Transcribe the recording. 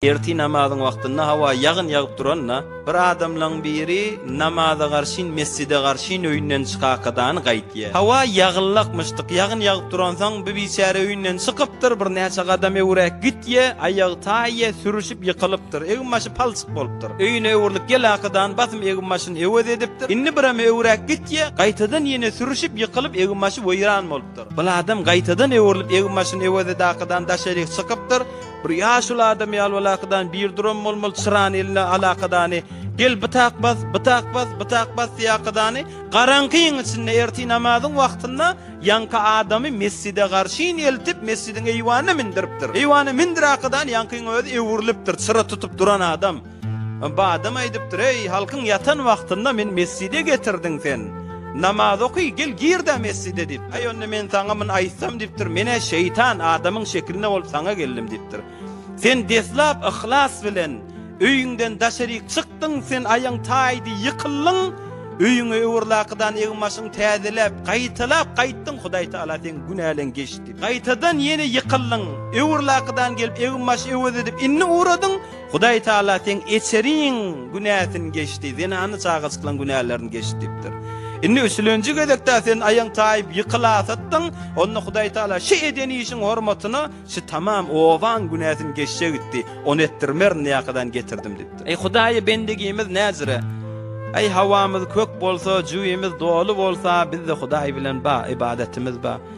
Ertir namazyň wagtynda hawa ýagyn ýagyp duranda, bir adamlaň biri namaza garşyn, mesjide garşyn öýünden çykaakadany gaýtýar. Hawa ýagynlakmyşdyk, ýagyn ýagyp duransoň, bu biçäre öýünden çykypdyr, birnäçe gadam öwräk gitýär, aýagy taýýar, sürüşip ýykylypdyr, egin-başy palçyk bolupdyr. Öýüne öwrülip geläkadany basym egin-başyny öwez edipdir. Indi birem öwräk gitýär, gaýtadan ýene sürüşip ýykylyp, egin-başy weýran bolupdyr. Bu adam gaýtadan öwrülip egin-başyny öwez edäkadany daşaryk çykypdyr. Bir ýaşuly adam ýaly bolakadan bir duran bolmaly çyrany eline alakadany gel bytak bas bytak bas bytak bas diýakadany garaňkyň içinde ertir namazyň wagtynda ýaňky adamy mesjide garşyn eltip mesjidiň eýwanyna mindiripdir eýwana mindirakadany ýaňkyň özi öwrülipdir çyra tutup duran adam Badam aýdypdyr, Eý, halkyň ýatan wagtynda meni mesjide getirdiň sen. Namaz oky, gel gir-de mesjide diýipdir. Aý, onda men saňa muny aýtsam diýipdir, men-ä şeýtan, adamyň şeklinde bolup saňa geldim diýipdir. Sen deslap yhlas bilen öýüňden daşaryk çykdyň, sen aýagyň taýdy ýykyldyň, öýüňe öwürlakydan egin-başyňy täzeläp, gaýtalap gaýtdyň, Hudaý Tagala seň günäleň geçdi. Gaýtadan ýene ýykyldyň, öwürlakydan gelip egin-baş öwez edip indi ugradyň, Hudaý Taala seň eçeriň günäsini geçdi, zenany çagajyklaň günälerini geçdi diýipdir. Indi üçlenji gezek-de sen aýaň taýyp ýykylasatdyň, onda Hudaý Taala şu eden işiň hormatyna şu tamam obaň günäsini geçjek itdi, ony etdirmerin diýäkadan getirdim diýipdir. Eý Hudaýy bendigimiz näzire? Eý howamyz kök bolsa, jüwimiz doly bolsa, bizde Hudaý bilen ba, ybadatymyz ba.